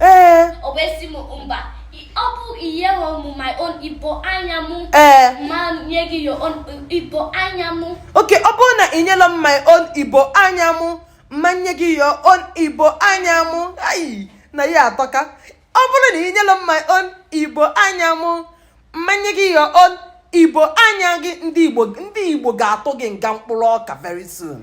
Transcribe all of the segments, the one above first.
ee okay ọ bụrụ na ị nyelọ m my own igbo anya mụ mma nye gị your own igbo anya mụ ayi na ya atọka ọ bụrụ na ị nyelọ m my own igbo anya mụ mma nye gị your own igbo anya gị ndị igbo ga-atụ gị nga mkpụrụ ọka very soon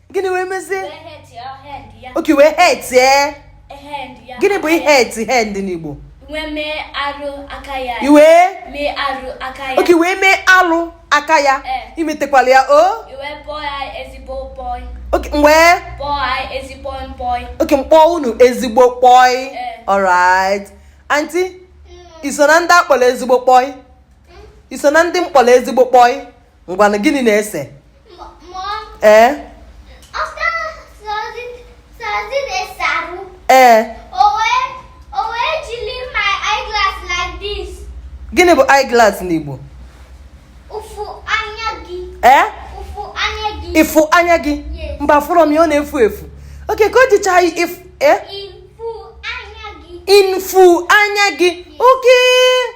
gịnị wee mezie okay wee hurt ee gịnị bụ hurt hand n'igbo wee mee alụ aka ya okay wee mee alụ aka ya imetekwala ya o okay wee okay m kpọọ unu ezigbo boy alright aunty i so na ndị a kpọrọ ezigbo boy i so na ndị m kpọrọ ezigbo boy ngwanụ gịnị na-ese ee ee gịnị bụ eyeglass n'Igbo ee ịfụ anya gị mba fụrọ m ya ọ na-efu efu okay ka o jicha ịfụ ee ịfụ anya gị okay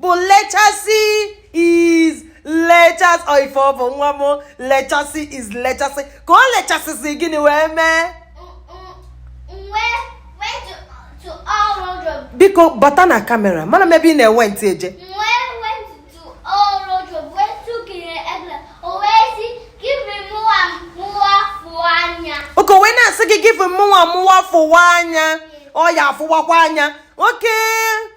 bụ lechasị is lechasị ọ ife ọ bụ nwa m lechasị is lechasị ka o lechasịzi gịnị wee mee biko bata na kamera mana m ebe ị na-went eje okay wee na-asị gị give mụnwa mụwa fụwa anya ọ ya afụwakwa anya okay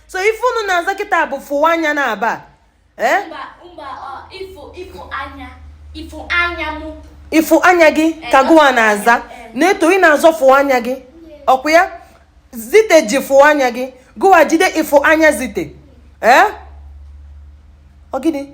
so ife unu na-aza kịta bụ fụwa anya na aba eh? ịfụ anya gị ka eh, gụwa na-aza eh, Naeto ị na-aza fụwa anya gị ọkwa ya Zite ji fụwa anya gị gụwa jide ịfụ anya Zite ee ọ gịnị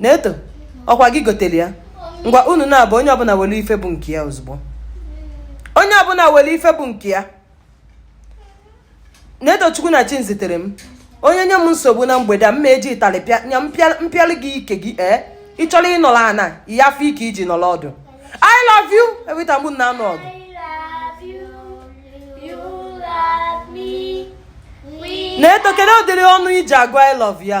Naeto ọkwa gị gotere ya ngwa unu naabọ onye ọbụla were ife bụ nke ya ozugbo onye ọbụla were ife bụ nke ya Naetochukwu na Chiziterem onye nye m nsogbu na mgbede a mma eji ịtarị m pịalụ gị ike gị ee eh? ị chọrọ ịnọrọ ana ị ya afụ ike iji nọrọ ọdụ I love you every time m na-anụ ọgụ Naeto kedu ụdịrị ọnụ iji agụ I love ya